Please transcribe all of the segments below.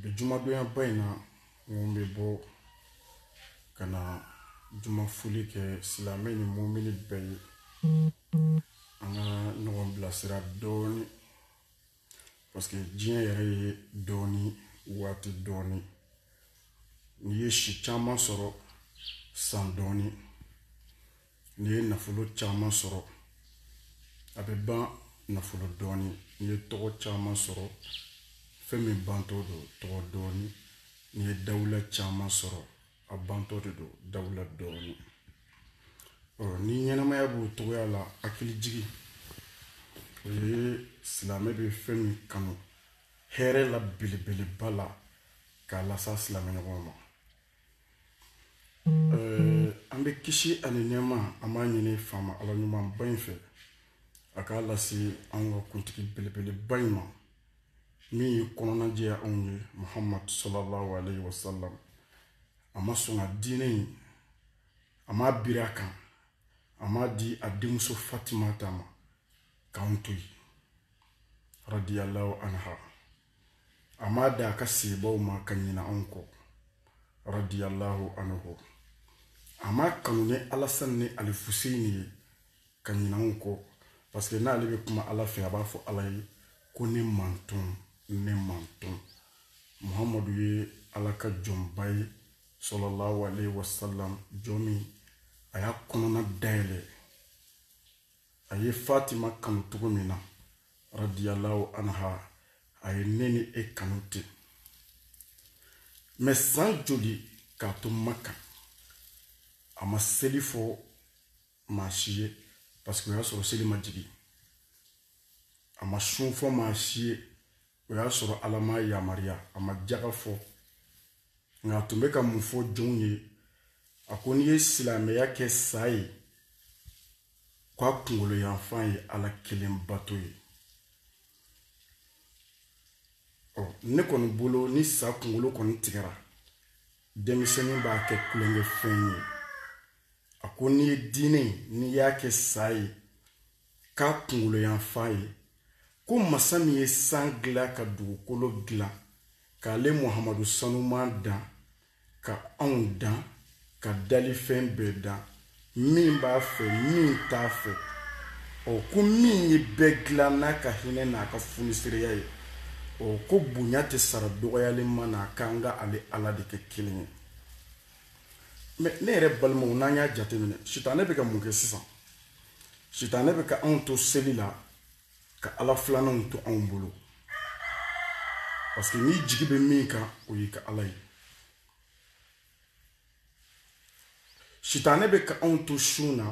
bi jumadonya ba in na mɔgɔ bɛ bɔ ka na juma foli kɛ silamɛ ni mumini bɛɛ ye an ka ɲɔgɔn bilasira dɔɔnin parce que diɲɛ yɛrɛ ye dɔɔnin waati dɔɔnin n'i ye si caman sɔrɔ san dɔɔnin n'i ye nafolo caman sɔrɔ a bɛ ban nafolo dɔɔni n'i ye tɔgɔ caman sɔrɔ fɛn min bantɔ don tɔgɔ dɔɔni n'i ye dawula caman sɔrɔ a bantɔ de don dawula dɔɔni ɔ ni ɲɛnamaya b'o cogoya la hakilijigin o ye silamɛ bɛ fɛn min kanu hɛrɛ la belebeleba la k'a las'a silamɛɲɔgɔn ma an bɛ kisi ani nɛɛma an b'a ɲini faama ala ɲumanba in fɛ a k'a lase an ka kuntigi belebeleba in ma min y'i kɔnɔna jɛya anw ye muhammadu sallallahu alaihi wasallam a ma sɔn ka diinɛ in a m'a biri a kan a m'a di a denmuso fatimata ma k'an to yen radiyallahu anha a m'a d'a ka sahabaw ma ka ɲina anw kɔ radiyallahu anhu a m'a kanu ni alasan ni alifuseni ye ka ɲina anw kɔ parce que n'ale bɛ kuma ala fɛ a b'a fɔ ala ye ko ne mantɔn ne mantɔn muhamadu ye ala ka jɔnba ye sallallahu alaihi wasallam jɔn min a y'a kɔnɔna dayɛlɛ a ye fatima kanu cogo min na radiyallahu anha a ye ne ni e kanu ten mais san joli k'a to maka a ma seli fɔ maa si ye parce que o y'a sɔrɔ seli ma jigin a ma sun fɔ maa si ye o y'a sɔrɔ ala m'a yamaruya a ma jaga fɔ nka a tun bɛ ka mun fɔ jɔnw ye a ko n'i ye silamɛya kɛ sa ye ko a kunkolo yanfan ye ala kelen bato ye ɔ ne kɔni bolo ni sa kunkolo kɔni tigɛra denmisɛnnin b'a kɛ tulonkɛfɛn ye a ko n'i ye diinɛ n'i y'a kɛ sa ye k'a kunkolo yanfan ye ko masa min ye san dilan ka dugukolo dilan k'ale muhamadu sanuman dan ka anw dan ka dalifɛn bɛɛ dan min b'a fɛ min t'a fɛ ɔ ko min ye bɛɛ dilan n'a ka hinɛ n'a ka funisireya ye ɔ ko bonya tɛ sara dɔgɔyalen ma n'a k'an ka ale ala de kɛ kelen ye mais ne yɛrɛ balimaw n'an y'a jateminɛ sitanɛ bɛ ka mun kɛ sisan sitanɛ bɛ ka anw to seli la ka ala filananw to anw bolo parce que n'i jigi bɛ min kan o y'i ka ala ye sitanɛ bɛ ka anw to sun na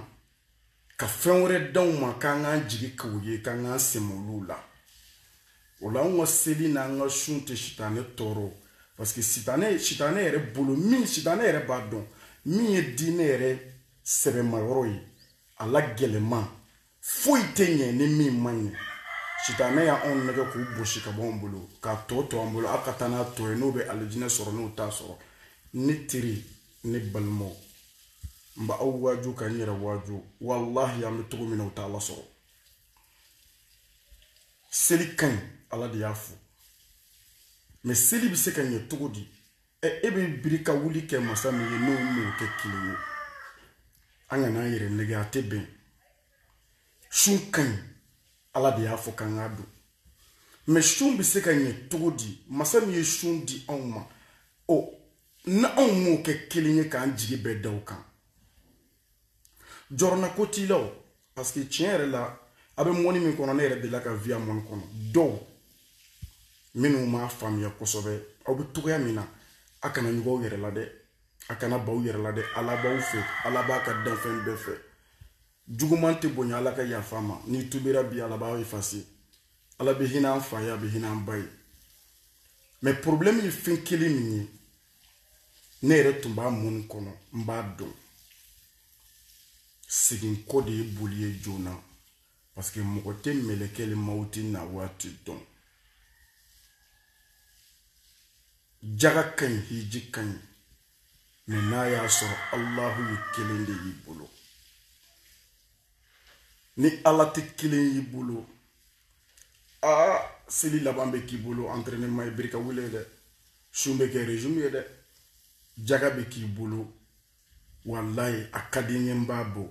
ka fɛn wɛrɛ d'anw ma k'an k'an jigi k'o ye k'an k'an sɛmɛ olu la o la anw ka seli n'an ka sun tɛ sitanɛ tɔɔrɔ parce que sitanɛ sitanɛ yɛrɛ bolo min sitanɛ yɛrɛ b'a dɔn min ye diinɛ yɛrɛ sɛbɛmayɔrɔ ye a la gɛlɛnman foyi tɛ ɲɛ ni min ma ɲɛ sitanɛ y'anw nɛgɛ k'o bɔsi ka bɔ anw bolo k'a tɔ to an bolo aw ka taa n'a tɔ ye n'o bɛ alijinɛ sɔrɔ n'o t'a sɔrɔ ne teri ne balimaw n bɛ aw waaju ka n yɛrɛ waaju walahi an bɛ cogo min na o t'a lasɔrɔ seli ka ɲi ala de y'a fɔ mɛ seli bɛ se ka ɲɛ cogo di e bɛ biri ka wuli kɛ masa min ye n'o m'o kɛ kelen ye an kana an yɛrɛ nɛgɛ a tɛ bɛn sun ka ɲi ala de y'a fɔ k'an k'a don mɛ sun bɛ se ka ɲɛ cogo di masa min ye sun di anw ma ni anw m'o kɛ kelen ye k'an jigi bɛɛ da o kan jɔrɔna ko t'i la o parce que tiɲɛ yɛrɛ la a bɛ mɔni min kɔnɔ ne yɛrɛ delila ka vi a mɔni kɔnɔ dɔw minnu m'a faamuya kosɛbɛ aw bɛ cogoya min na a kana ɲugun aw yɛrɛ la dɛ a kana ban aw yɛrɛ la dɛ ala b'aw fɛ ala b'a ka danfɛn bɛɛ fɛ juguman tɛ bonya ala ka yafa ma n'i tubira bi ala b'aw efase ala bɛ hinɛ an fa ye a bɛ hinɛ an ba ye mɛ problɛmu ye fɛn kelen min ye ne yɛrɛ tun b'a mɔni kɔnɔ n b'a dɔn seginko de ye boli ye joona paske mɔgɔ tɛ mɛlɛkɛli mawuti na waati dɔn jaga ka ɲi hiji ka ɲi mɛ n'a y'a sɔrɔ alahu ye kelen de y'i bolo ni ala tɛ kelen y'i bolo aa seli laban bɛ k'i bolo entraînement ye biri ka wuli dɛ sun bɛ kɛ régime ye dɛ jaga bɛ k'i bolo walayi a ka di n ye n b'a bɔ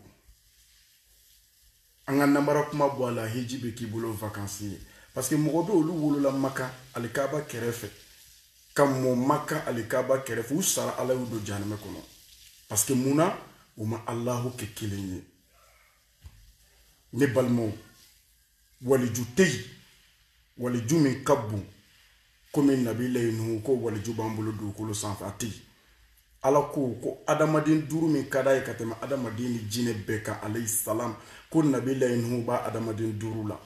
an ka namara kuma bɔ a la hiji bɛ k'i bolo vakansi ye parce que mɔgɔ bɛ olu wolola maka alikaba kɛrɛfɛ ka mɔ maka alikaba kɛrɛfɛ u sara ala y'u don jahanamɛ kɔnɔ parce que mun na u ma alahu kɛ kelen ye ne balimaw waliju tɛ yen waliju min ka bon komi nabilayi nuhu ko waliju b'an bolo dugukolo sanfɛ a tɛ yen ala ko ko adamaden duuru min ka d'a ye ka tɛmɛ adamaden ni jinɛ bɛɛ kan alayhi salam ko nabilayi nuhu b'a adamaden duuru la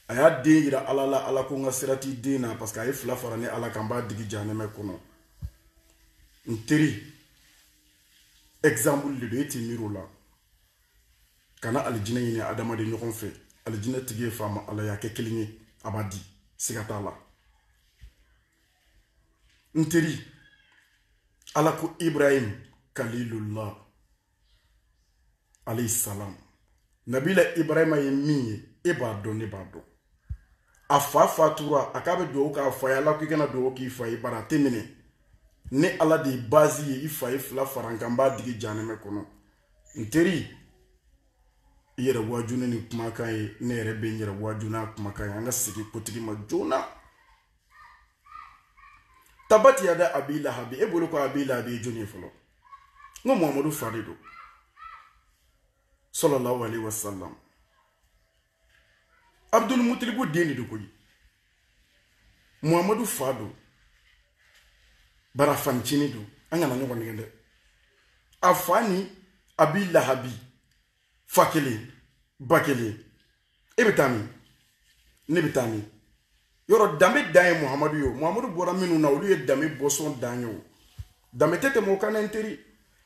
a y'a den yira ala la ala ko n ka sira t'i den na parce que a ye fila fara ne ala kan n b'a digi jahanamɛ kɔnɔ n teri exemple de don e t'i miiri o la kana alijinɛ ɲini adamaden ɲɔgɔn fɛ alijinɛ tigi ye faama ala y'a kɛ kelen ye a b'a di siga t'a la n teri ala ko ibrahim kalilullah alayhi salam nabila ibrahima ye min ye e b'a dɔn ne b'a dɔn a fa fatura a k'a bɛ dugawu k'a fa ye ala ko i kana dugawu k'i fa ye bari a tɛ minɛ ne ala de ye bazi ye i fa ye fila fara n kan n b'a digi janɛmɛ kɔnɔ n teri i yɛrɛ waaju ni nin kumakan ye ne yɛrɛ bɛ n yɛrɛ waaju n'a kumakan ye an ka segin kotigi ma joona tabati yada abi lahabi e bolo ko abi lahabi jɔni ye fɔlɔ n ko muhamadu fa de don sallallahu alaihi wasallam abdul mutalibu den de don koyi muhamadu fa don bari a fanincini don an kana ɲɔgɔn nɛgɛn dɛ a fa ni abi lahabi fa kelen ba kelen e bɛ taa min ne bɛ taa min yɔrɔ danbe dan ye muhamadu ye o muhamadu bɔra minnu na olu ye danbe bɔnsɔn dan ye o danbe tɛ tɛmɛ o kan dɛ n teri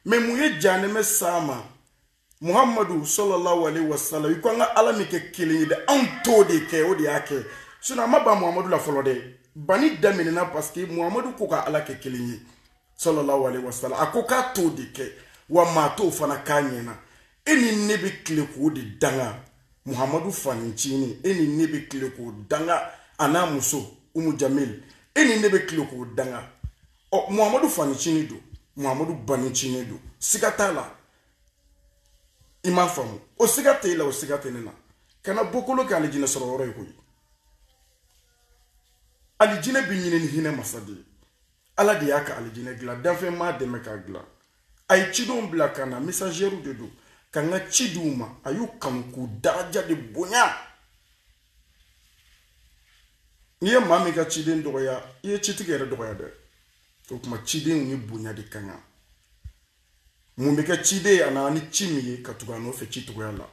mais mun ye janɛmɛ s'a ma muhammadu sallallahu alaihi wasallam i ko an ka ala min kɛ kelen ye dɛ anw t'o de kɛ o de y'a kɛ sinon a ma ban muhammadu la fɔlɔ dɛ bani daminɛna parce que muhammadu ko ka ala kɛ kelen ye sallallahu alaihi wasallam a ko k'a t'o de kɛ wa maa t'o fana k'a ɲɛna e ni ne bɛ tile k'o de danga muhammadu fanincini e ni ne bɛ tile k'o danga a n'a muso umu jamil e ni ne bɛ tile k'o danga ɔ muhammadu fanincini don muhammadu banincini don siga t'a la i m'a faamu o siga tɛ i la o siga tɛ ne na kana bɔkolo kɛ alijinɛ sɔrɔ yɔrɔ ye koyi alijinɛ bɛ ɲini ni hinɛ masa de ye ala de y'a ka alijinɛ dilan danfɛn m'a dɛmɛ k'a dilan a ye cidenw bila ka na misazɛriw de don ka n ka ci di u ma a y'u kanu k'u daraja de bonya n'i ye maa min ka ciden dɔgɔya i ye citigi yɛrɛ dɔgɔya dɛ o tuma cidenw ye bonya de ka kan mun bɛ kɛ ciden ye a nana ni ci min ye ka tugu a nɔfɛ ci cogoya la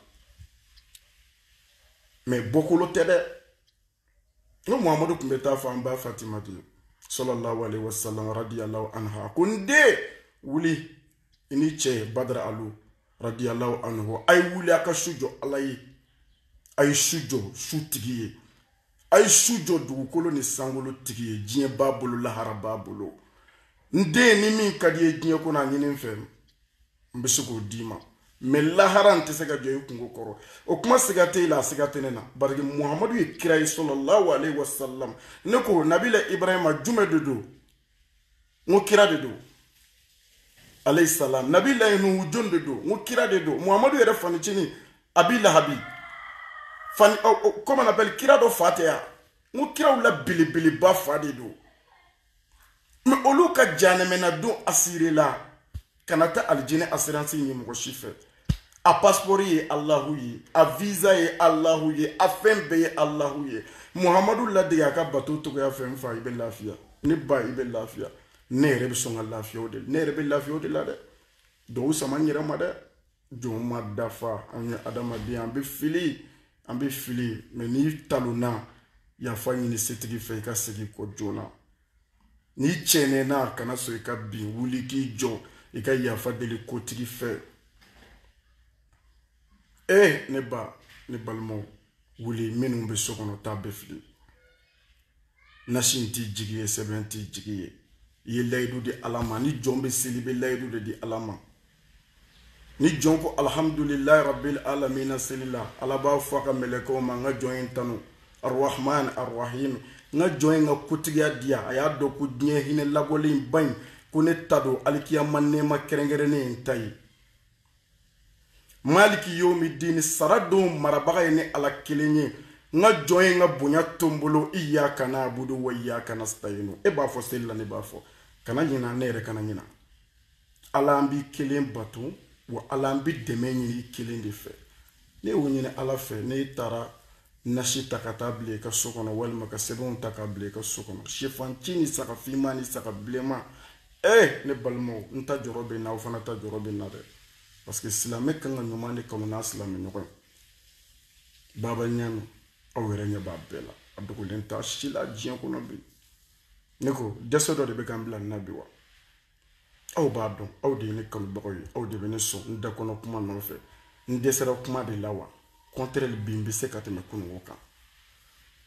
mais bɔkolo tɛ dɛ n ko muhamadu tun bɛ taa fɔ an ba fatimatu sallallahu alaihi wasallam radiyallahu anha ko n den wuli i n'i cɛ badara alu radiyallahu anhu a ye wuli a ka su jɔ ala ye a ye su jɔ su tigi ye a ye su jɔ dugukolo ni sankolo tigi ye diɲɛ b'a bolo lahara b'a bolo n den ni min ka d'i ye diɲɛ kɔnɔ a ɲini n fɛ n bɛ se k'o d'i ma mais lahara n tɛ se ka jɔ i kungo kɔrɔ o kuma siga tɛ i la a siga tɛ ne na parce que muhamadu ye kira ye sallallahu alaihi wasallam ne ko nabila ibrahima jumɛn de don n ko kira de don alayhi salam nabilayi nuhu jɔn de don n ko kira de don muhamadu yɛrɛ fa ncinin abi lahabi fani comment on appelle kira dɔ fa tɛ yan n ko kiraw la belebeleba fa de don mɛ olu ka jahanama na don asirela kana taa alijinɛ asiransi ɲini mɔgɔ si fɛ a pasipɔri ye alahu ye a viza ye alahu ye a fɛn bɛɛ ye alahu ye muhamadu ladege a ka bato cogoya fɛ n fa i bɛ lafiya ne ba i bɛ lafiya ne yɛrɛ bɛ sɔn ka lafiya o de ne yɛrɛ bɛ lafiya o de la dɛ dɔw sama n yɛrɛ ma dɛ jɔn ma dafa an ye adamaden ye an bɛ fili an bɛ fili mɛ n'i talonna yafa ɲini setigi fɛ i ka segin kɔ joona n'i cɛɛnɛna kana sɔn i ka bin wuli k'i jɔ i ka yafa deli kotigi fɛ e ne ba ne balimaw wuli minnu bɛ so kɔnɔ taa bɛɛ fili nasi in t'i jigi ye sɛbɛn t'i jigi ye i ye layidu di ala ma ni jɔn bɛ seli i bɛ layidu de di ala ma ni jɔn ko alihamdulilayi rabil alamina seli la ala b'a fɔ a ka mɛlɛkɛw ma n ka jɔn ye n tanu arahman arahim n ka jɔn ye n ka kotigiya diya a y'a dɔn ko diɲɛ hinɛ labɔlenba in ko ne ta don alikiyama nɛɛma kɛrɛnkɛrɛnnen ye n ta ye maliki yomi dini sara don marabaga ye ne ala kelen ye n ka jɔn ye n ka bonya to n bolo iyaka nabudu wa iyaka nasitayinu e b'a fɔ seli la ne b'a fɔ kana ɲina ne yɛrɛ kana ɲina ala an b'i kelen bato wa ala an bɛ dɛmɛ ɲini i kelen de fɛ n'e y'o ɲini ala fɛ n'e taara nasi ta ka taa bila i ka so kɔnɔ walima ka sɛbɛnw ta ka bila i ka so kɔnɔ sɛfanci ni saga finman ni saga bilenman ee ne balimaw n ta jɔrɔ bɛ n na aw fana ta jɔrɔ bɛ n na dɛ parce que silamɛ kan ka ɲuman de kanu n'a silamɛ ɲɔgɔn ye baba ɲaamɛ aw yɛrɛ ɲɛ b'a bɛɛ la a dogolen t'a si la diɲɛ kɔnɔ bi ne ko dɛsɛ dɔ de bɛ ka n bila nin na bi wa aw b'a dɔn aw de ye ne kanubagaw ye aw de bɛ ne sɔn n da kɔnɔ kuma nɔfɛ n dɛsɛra kuma de la wa contraire bi n bɛ se ka tɛmɛ kununko kan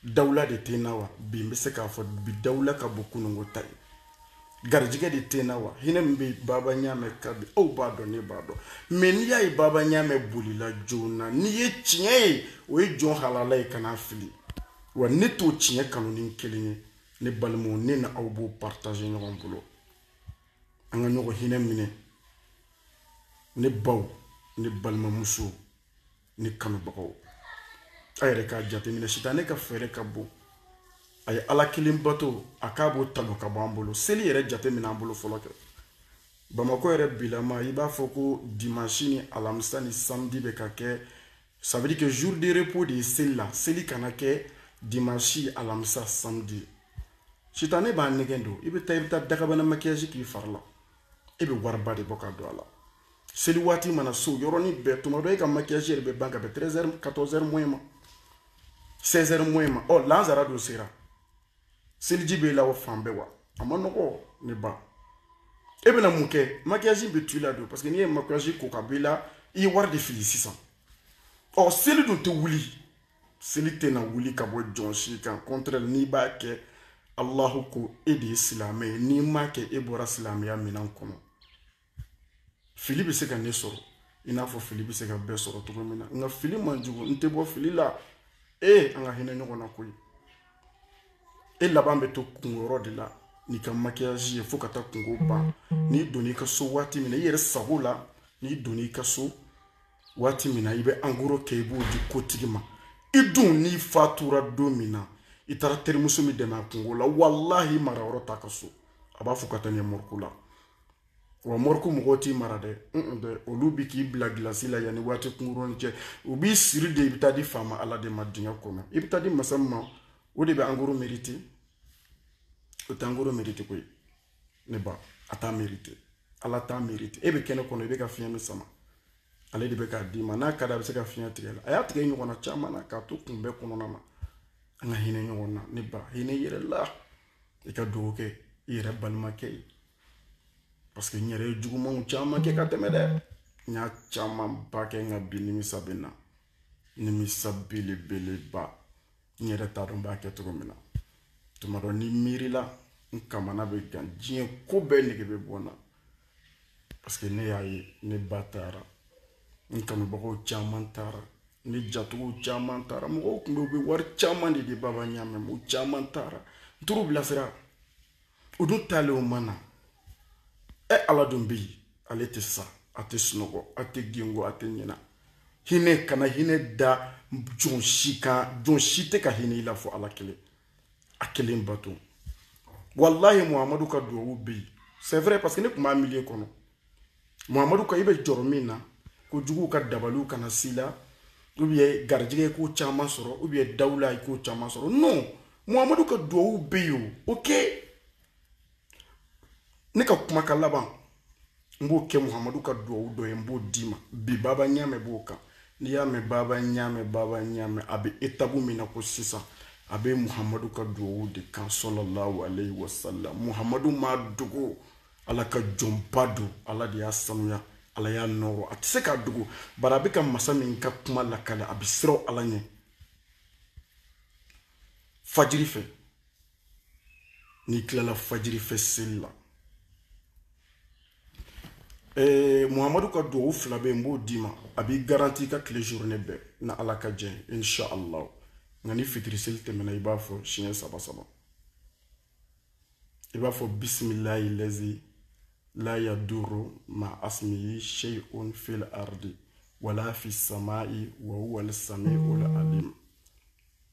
dawula de tɛ n na wa bi n bɛ se k'a fɔ bi dawula ka bon kununko ta ye garijɛgɛ de tɛ n na wa hinɛ min bɛ baba ɲaamɛ kan bi aw b'a dɔn ne b'a dɔn mɛ n'i y'a ye baba ɲaamɛ bolila joona n'i ye tiɲɛ ye o ye jɔn halala ye kana fili wa ne t'o tiɲɛ kanu ne kelen ye ne balimaw ne n'aw b'o partager ɲɔgɔn bolo an ka ɲɔgɔn hinɛ minɛ ne baw ne balimamusow ne kanubagaw a yɛrɛ k'a jateminɛ sitanɛ ka fɛɛrɛ ka bon a ye ala kelen bato a k'a b'o tan ka bɔ an bolo seli yɛrɛ jateminɛ an bolo fɔlɔ kɛ bamakɔ yɛrɛ bilama i b'a fɔ ko dimansi ni alamisa ni samedi bɛ ka kɛ Ça veut dire que jour de repos de seli la seli kana kɛ dimanche alamisa samedi sitane b'a nege don i bɛ taa i bɛ taa dakabana maquillage k'i fari la e bɛ wariba de bɔ ka don a la seli waati mana s'o yɔrɔnin bɛɛ tuma dɔ e ka maquillage yɛrɛ bɛ ban ka bɛn 13 heures 14 heures moins ma 16 heures moins ma ɔ lansara dun sera seliji b'e la o fan bɛɛ wa a man nɔgɔ ne ba e bɛna mun kɛ makiyaji bɛ to i la don parce que n'i ye makiyaji ko ka bɔ i la i ye wari de fili sisan ɔ seli dun tɛ wuli seli tɛna wuli ka bɔ jɔn si kan contraire n'i b'a kɛ alahu ko e de ye silamɛ ye n'i m'a kɛ e bɔra silamɛya minɛn kɔnɔ fili bɛ se ka ne sɔrɔ i n'a fɔ fili bɛ se ka bɛɛ sɔrɔ cogo min na nka fili man jugu n tɛ bɔ fili la ee an ka hinɛ ɲɔgɔn na koyi e laban bɛ to kunkɔrɔ de la n'i ka makiyaji ye fo ka taa kunko ban n'i donn'i ka so waati min na i yɛrɛ sago la n'i donn'i ka so waati min na i bɛ angoro kɛ i b'o di kotigi ma i dun n'i fatura don min na i taara terimuso min dɛmɛ a kunko la walahi mara yɔrɔ t'a ka so a b'a fɔ ka taa n'i ye mɔriku la wa mɔriku mɔgɔw t'i mara dɛ olu bi k'i bila gilasi la yanni waati kunkuruni cɛ u b'i siri de i bɛ taa di faama ala de ma dingɛ kɔnɔ i bɛ taa di masa min ma o de bɛ angoro merite o tɛ angoro merite koyi ne ba a t'a merite ala t'a merite e bɛ kɛnɛ kɔnɔ i bɛ ka fiɲɛ min sama ale de bɛ k'a d'i ma n'a ka di a bɛ se ka fiɲɛ tigɛ i la a y'a tigɛ i ɲɔgɔnna caman na k'a to kunbɛn kɔnɔna na an ka hinɛ ɲɔgɔn na ne ba hinɛ i yɛrɛ la i ka dugawu kɛ i yɛrɛ balimakɛ ye parce que n yɛrɛ ye juguman caman kɛ ka tɛmɛ dɛ n y'a camanba kɛ nka bi nimisa bɛ n na nimisa belebeleba n yɛrɛ t'a dɔn n b'a kɛ cogo min na tuma dɔ ni n miirila n kamana bɛ gan diɲɛ ko bɛɛ nege bɛ bɔ n na parce que ne y'a ye ne ba taara n kanubagaw caman taara ne jatigiw caman taara mɔgɔw tun bɛ u bɛ wari caman de di baba ɲamɛ ma u caman taara n taar'u bilasira u dun taalen u ma na ɛ ala dun bɛ yen ale tɛ sa a tɛ sunɔgɔ a tɛ gengo a tɛ ɲina hinɛ kana hinɛ da jɔn si kan jɔn si tɛ ka hinɛ i la fɔ ala kelen a kelen bato walahi muhamadu ka duwawu bɛ yen c'est vrai parce que ne tun b'a milieu kɔnɔ muhamadu ka i bɛ jɔrɔ min na ko juguw ka dabaliw kana s'i la ou bien garijɛgɛ ko caman sɔrɔ ou bien dawula i ko caman sɔrɔ non muhamadu ka duwawu bɛ yen o ok ne ka kumakan laban n b'o kɛ muhamadu ka duwawu dɔ ye n b'o d'i ma bi baba ɲaamɛ b'o kan n'i y'a mɛn baba ɲaamɛ baba ɲaamɛ a bɛ étape min na ko sisan a bɛ muhamadu ka duwawu de kan salalahu alayhi wa sallam muhamadu m'a dogo ala ka jɔnba don ala de y'a sanuya ala y'a nɔrɔ a tɛ se k'a dogo bari a bɛ ka masa min ka kuma lakale a bɛ siran ala ɲɛ fajiri fɛ n'i tilala fajiri fɛ seli la ee eh, muhamadu ka duwawu fila bɛ yen n b'o d'i ma a b'i garanti i ka tile journée bɛɛ na ala ka jɛ insha allah nka ni fitiri seli tɛmɛna i b'a fɔ siɲɛ saba saba i b'a fɔ bisimilayi lazi la yaduru ma asimiyi sheyun fil ardi wala fi samai wa huwa al samiu al alim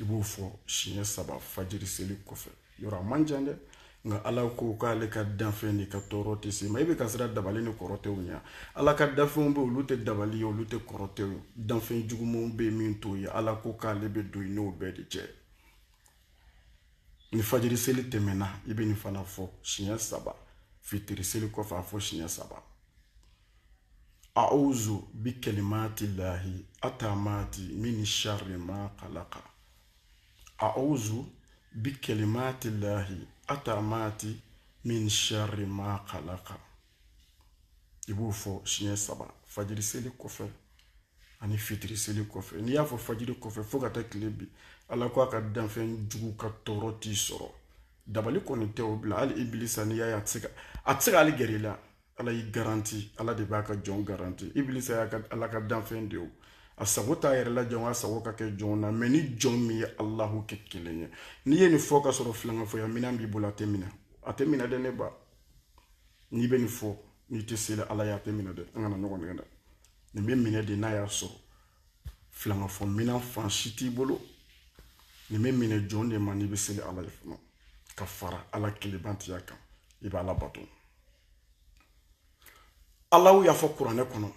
i b'o fɔ siɲɛ saba fajiri seli kɔfɛ yɔrɔ a man jan dɛ nka ala ko k'ale ka danfɛn de ka tɔɔrɔ tɛ s'i ma i bɛ ka siran dabali ni kɔrɔtɛw ɲɛ ala ka danfɛnw bɛ olu tɛ dabali ye olu tɛ kɔrɔtɛw ye danfɛn jugumanw bɛ min t'o ye ala ko k'ale bɛ don i n'o bɛɛ de cɛ ni fajiri seli tɛmɛna i bɛ nin fana fɔ siɲɛ saba fitiri seli kɔfɛ a fɔ siɲɛ saba a'uzu bi kalimati lahi atamati min sharri ma khalaqa a'uzu bi kalimati lahi atamati min sharri ma khalaqa i b'o fɔ siɲɛ saba fajiri seli kɔfɛ ani fitiri seli kɔfɛ n'i y'a fɔ fajiri kɔfɛ fo ka taa tile bin ala ko a ka danfɛn jugu ka tɔɔrɔ t'i sɔrɔ dabali kɔni tɛ o bila hali ibilisa n'i y'a ye a tɛ se ka a tɛ se ka hali gɛrɛ i la ala y'i garanti ala de b'a ka jɔn garanti ibilisa y'a ka ala ka danfɛn de o a sago t'a yɛrɛ la janko a sago ka kɛ jɔn na mɛ ni jɔn min ye alahu kɛ kelen ye n'i ye nin fɔ ka sɔrɔ filankafoya minɛn b'i bolo a tɛ minɛ a tɛ minɛ dɛ ne ba n'i bɛ nin fɔ n'i tɛ seli ala ye a tɛ minɛ dɛ an kana ɲɔgɔn nɛgɛn dɛ nin bɛ minɛ de n'a y'a sɔrɔ filankafo minan fan si t'i bolo nin bɛ minɛ jɔn de ma n'i bɛ seli ala ye fana ka fara ala kelenbatoya kan i bɛ ala bato alahu y'a fɔ kuranɛ kɔnɔ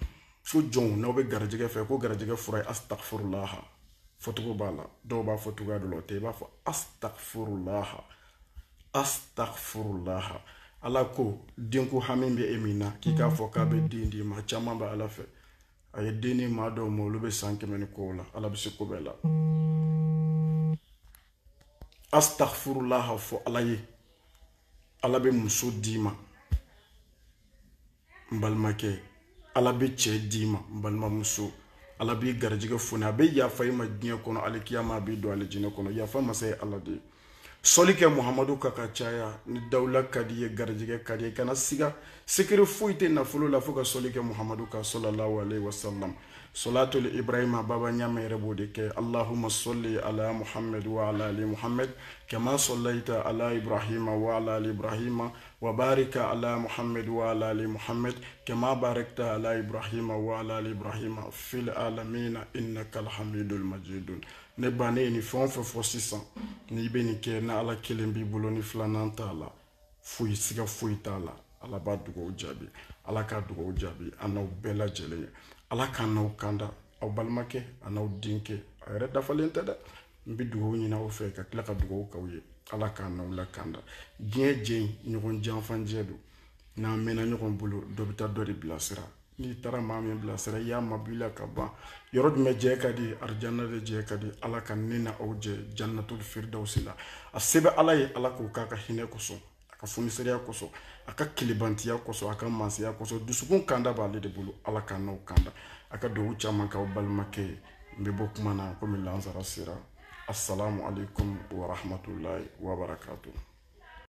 fo jɔnw n'aw bɛ garijɛgɛ fɛ ko garijɛgɛ fura ye astagfirulaha fɔcogo b'a la dɔw b'a fɔ cogoya dɔ la o tɛ i b'a fɔ astagfirulaha astagfirulaha ala ko denko hami bɛ e min na k'i k'a fɔ k'a bɛ den d'i ma caman bɛ ala fɛ a ye den di maa dɔw ma olu bɛ san kɛmɛ ni kɔ la ala bɛ se ko bɛɛ la astagfirulaha fɔ ala ye ala bɛ muso d'i ma n balimakɛ ala bɛ cɛ d'i ma n balimamuso ala b'i garijɛgɛ foni a bɛ yafa i ma diɲɛ kɔnɔ alikiyama a b'i don alijinɛ kɔnɔ yafa masa ye ala de ye sɔli kɛ muhamadu kan k'a caya ni dawula ka d'i ye garijɛgɛ ka d'i ye kana siga sekere foyi tɛ nafolo la fo ka sɔli kɛ muhamadu kan sɔlallahu alaihi wasallam solatul ibrahima baba ɲama yɛrɛ b'o de kɛ allahuma sɔli ala muhamad wa ala ali muhamad kama sɔlayita ala ibrahima wa ala ali ibrahima wa barika ala muhamad wa ala ali muhamad kama barakta ala ibrahima wa ala ali ibrahima fil alamina innaka alhamidul majidun ne ba ne ye nin fɛn o fɛn fɔ sisan n'i bɛ nin kɛ ni ala kelen b'i bolo ni filanan t'a la foyi siga foyi t'a la ala b'a dugawu jaabi ala k'a dugawu jaabi an n'aw bɛɛ lajɛlen ye ala k'an n'aw kanda aw balimakɛ an'aw denkɛ a yɛrɛ dafalen tɛ dɛ n bɛ dugawu ɲini aw fɛ ka tila ka dugawu k'aw ye ala k'an n'aw lakanda diɲɛ jɛ in ɲɔgɔn janfa jɛ don n'an mɛnna ɲɔgɔn bolo dɔ bɛ taa dɔ de bilasira n'i taara maa min bilasira i y'a mabɔ i la ka ban yɔrɔ jumɛn jɛ ka di arijana de jɛ ka di ala ka ne n'aw jɛ jannatul firdawsi la a se bɛ ala ye ala k'o k'a ka hinɛ kosɔn a ka funiseriya kosɔn a ka kelebantiya kosɔn a ka mansaya kosɔn dusukun kanda b'ale de bolo ala k'an n'aw kanda a ka dugawu caman k'aw balimakɛ ye n bɛ bɔ kuma na komi lansara sera assalamu alaikum warahmatullahi wabarakatuh